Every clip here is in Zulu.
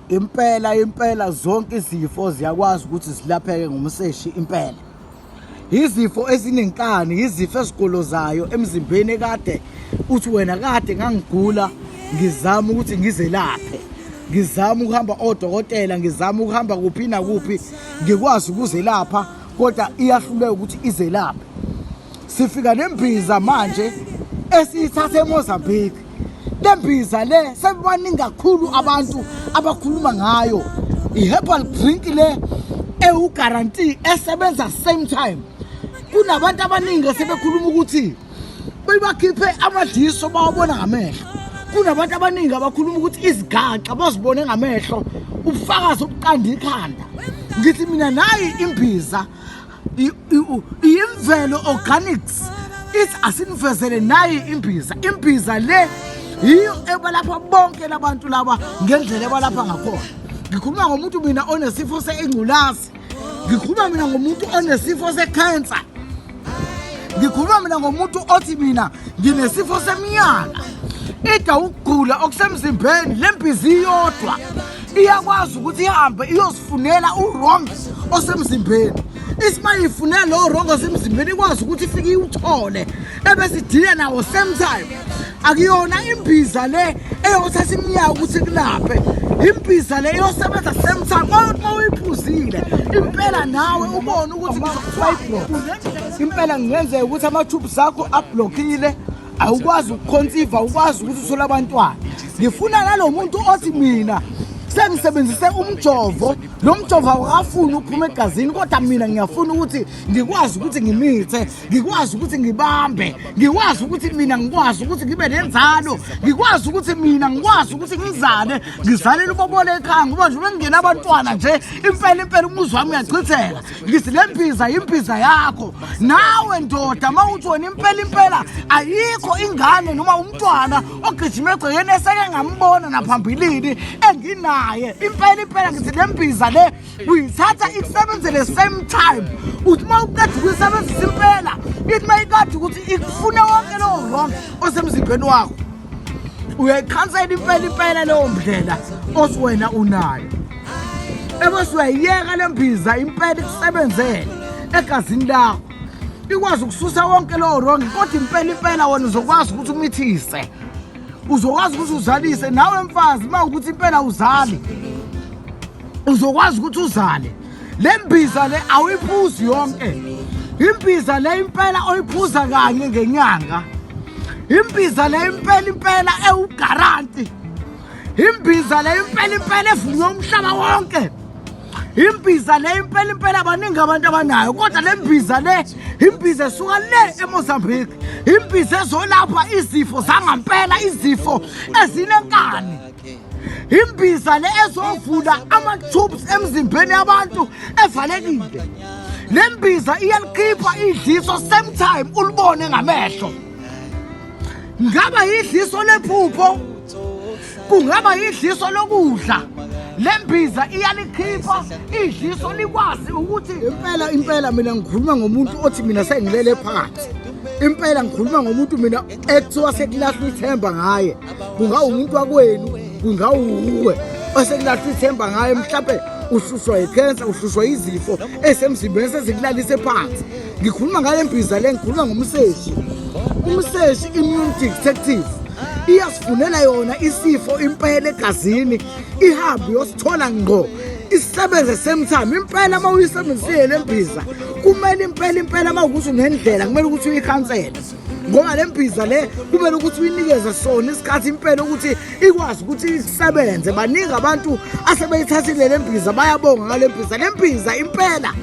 impela impela zonke izifo ziyakwazi ukuthi zilapheke ngomseshi impela izifo ezinenkani izifo esigolozayo emzimbeni ekade uthi wena kade ngangigula ngizama ukuthi ngizelaphe ngizama ukuhamba odokotela ngizama ukuhamba kuphi nakuphi ngikwazi ukuzelapha kodwa iyahluleka ukuthi izelaphe sifika nembiza manje esiyithatha eMozambique le mbiza le sebaningi kakhulu abantu abakhuluma ngayo i-herbal drink le ewuguarantee esebenza same time kunabantu abaningi esebekhuluma ukuthi bebakhiphe amadiso bawabona ngamehlo kunabantu abaningi abakhuluma ukuthi izigaxa bazibone ngamehlo ubufakazi obuqanda ikhanda ngithi mina nayi imbiza iyimvelo organics ithi asinifezele nayi imbiza imbiza le yiyo ebalapha bonke labantu laba ngendlela ebalapha ngakhona ngikhuluma ngomuntu mina onesifo seingculazi ngikhuluma mina ngomuntu onesifo sekhensa ngikhuluma mina ngomuntu othi mina nginesifo semiyala ida ukugula okusemzimbeni le mbizi iyodwa iyakwazi ukuthi ihambe iyozifunela uwrong osemzimbeni isima ifunela lowo wrong osemzimbeni ikwazi ukuthi ifike iwuthole ebesidile nawo same time akuyona imbiza le eyothatha iminyaka ukuthi kulaphe imbiza le iyosebenza same time uma uyiphuzile impela nawe ubone ukuthi ngizokufayiblo impela kungenzeka ukuthi amathubu zakho abhlokile awukwazi ukukhonsiva awukwazi ukuthi uthole abantwana ngifuna nalo muntu othi mina sengisebenzise umjovo lo mjovo awukafuni ukuphuma egazini kodwa mina ngiyafuna ukuthi ngikwazi ukuthi ngimithe ngikwazi ukuthi ngibambe ngikwazi ukuthi mina ngikwazi ukuthi ngibe nenzalo ngikwazi ukuthi mina ngikwazi ukuthi ngizale ngizalele ubobole ekhaya ngoba nje uma ngingena abantwana nje impela impela umuzi wami uyachitheka ngithi le mbiza yimbiza yakho nawe ndoda uma uthi wena impela impela ayikho ingane noma umntwana ogijima egcekeni eseke ngambona naphambilini enginaye impela impela ngithi le mbiza le uyithatha ikusebenzele same time uthi uma uqeda ukuyisebenzisa impela ithi uma ikade ukuthi ikufune wonke lowo wrong osemzimbeni wakho uyayikhansela impela impela leyo ndlela osiwena unayo ebese uyayiyeka le mbiza impela ikusebenzele egazini lakho ikwazi ukususa wonke lowo rongi kodwa impela impela wena uzokwazi ukuthi umithise uzokwazi ukuthi uzalise nawe mfazi uma ukuthi impela uzali uzokwazi ukuthi uzale le mbiza le awuyiphuzi yonke imbiza le impela oyiphuza kanye ngenyanga imbiza le impela impela ewugaranti imbiza le impela impela evunywe umhlaba wonke imbiza le impela impela abaningi abantu abanayo kodwa le mbiza le imbiza esuka le emozambique imbiza ezolapha izifo zangampela izifo ezinenkani imbiza le ezovula ama-tubes emzimbeni yabantu evalekile le mbiza iyalikhipha idliso same time ulibone ngamehlo ngaba yidliso lephupho kungaba yidliso lokudla le mbiza iyalikhipha idliso likwazi ukuthi impela impela mina ngikhuluma ngomuntu othi mina sengilele phansi impela ngikhuluma ngomuntu mina ekuthiwa sekulahlwa ithemba ngaye kungawumuntu wakwenu kungawuwe osekulahlwa ithemba ngaye mhlawumbe uhlushwa yikhensa uhlushwa yizifo esemzimbeni sezikulalise phansi ngikhuluma ngale mbiza le ngikhuluma ngomseshi umseshi immune detective iyasifunela yona isifo impela egazini ihambe yosithola ngqo isebenze same time impela uma uyisebenzisile le mbiza kumele impela impela uma ukuthi unendlela kumele ukuthi uyikhansele ngoba le mbhiza le kumele ukuthi uyinikeze sona isikhathi impela ukuthi ikwazi ukuthi isebenze baningi abantu asebeyithathile le mbhiza bayabonga ngale mbhiza le mbhiza impela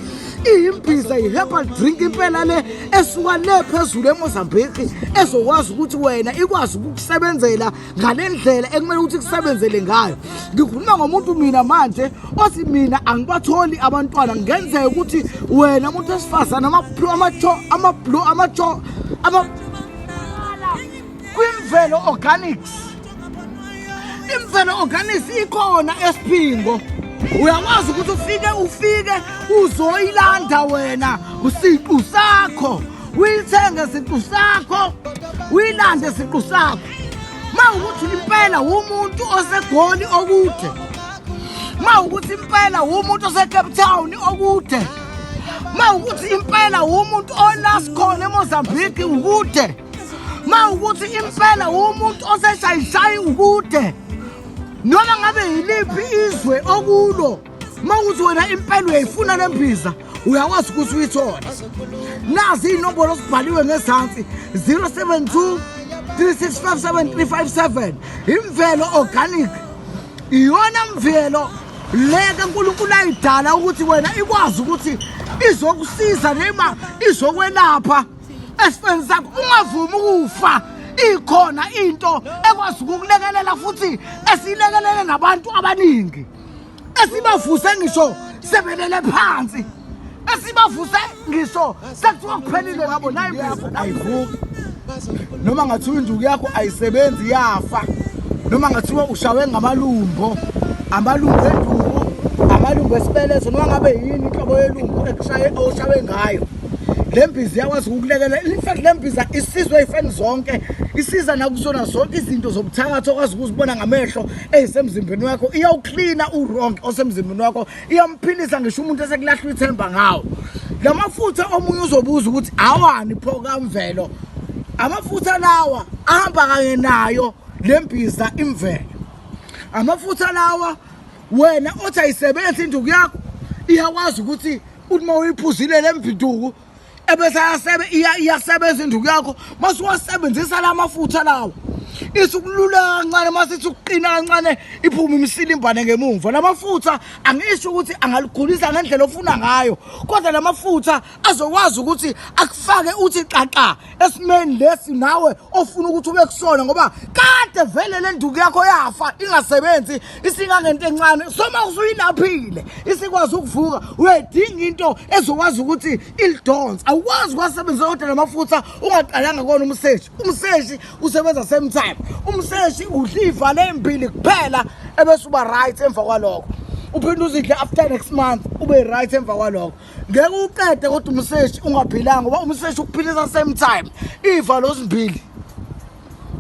iyimbiza yi-herbal drink impela le esuka le phezulu emozambique ezokwazi ukuthi wena ikwazi ukukusebenzela ngale ndlela ekumele ukuthi kusebenzele ngayo ngikhuluma ngomuntu mina manje othi mina angibatholi abantwana ngenzeka ukuthi wena muntu wesifazane amabhlo amacho amabhlo amacho ama kwimvelo organics imvelo organics ikhona esiphingo uyakwazi ukuthi ufike ufike uzoyilanda wena usiqu sakho uyithenge siqu sakho uyilande siqu sakho ma ukuthi impela wumuntu osegoli okude ma ukuthi impela wumuntu osecape town okude ma ukuthi impela wumuntu olaskhona emozambique ukude ma ukuthi impela wumuntu oseshayishayi ukude noma ngabe yiliphi izwe okulo uma uthi wena impela uyayifuna le mbiza uyakwazi ukuthi uyithole nazi iy'nombolo zibhaliwe ngezansi 072 3657357 imvelo organic iyona mvelo leke uNkulunkulu ayidala ukuthi wena ikwazi ukuthi izokusiza noma izokwelapha esifeni sakho ungavumi ukufa ikhona into ekwazi ukukulekelela futhi esiyilekelele nabantu abaningi esibavuse ngisho sebelele phansi esibavuse ngisho sekuthiwa kuphelile ngabo naye mvuzo ayivuki noma ngathiwa induku yakho ayisebenzi yafa noma ngathiwa ushawe ngamalumbo amalumbo enduku amalumbo esibeletho noma ngabe yini inhlobo yelumbo ekushaye oshawe ngayo le mbiza iyakwazi ukukulekelela in fact le mbiza isizwe ifeni zonke isiza nakusona zonke izinto zobuthakathi okwazi ukuzibona ngamehlo eyisemzimbeni wakho iyawuklina uwrong osemzimbeni wakho iyamphilisa ngisho umuntu esekulahlwa ithemba ngawo la mafutha omunye uzobuza ukuthi awani pho kamvelo amafutha lawa ahamba kanye nayo le mbiza imvelo amafutha lawa wena othi ayisebenzi induku yakho iyakwazi ukuthi uthi uma uyiphuzile le mvinduku ebese iyasebenza induku yakho masuwasebenzisa la mafutha lawo isikulula kancane uma sithi ukuqina kancane iphume imisilimbane ngemumva la mafutha angisho ukuthi angaligulisa ngendlela ofuna ngayo kodwa la mafutha azokwazi ukuthi akufake uthi xaxa esimeni lesi nawe ofuna ukuthi ube kusona ngoba kade vele le nduku yakho yafa ingasebenzi isingangento encane soma usuyilaphile isikwazi ukuvuka uyayidinga into ezokwazi ukuthi ilidonse awukwazi ukwasebenzisa kodwa namafutha ungaqalanga kona umseshi umseshi usebenza same time umseshi udla iy'valo ey'mbili kuphela ebese uba right emva kwalokho uphinde uzidle after next month ube right emva kwalokho ngeke uqede kodwa umseshi ungaphilanga ngoba umseshi ukuphilisa same time iy'valo zimbili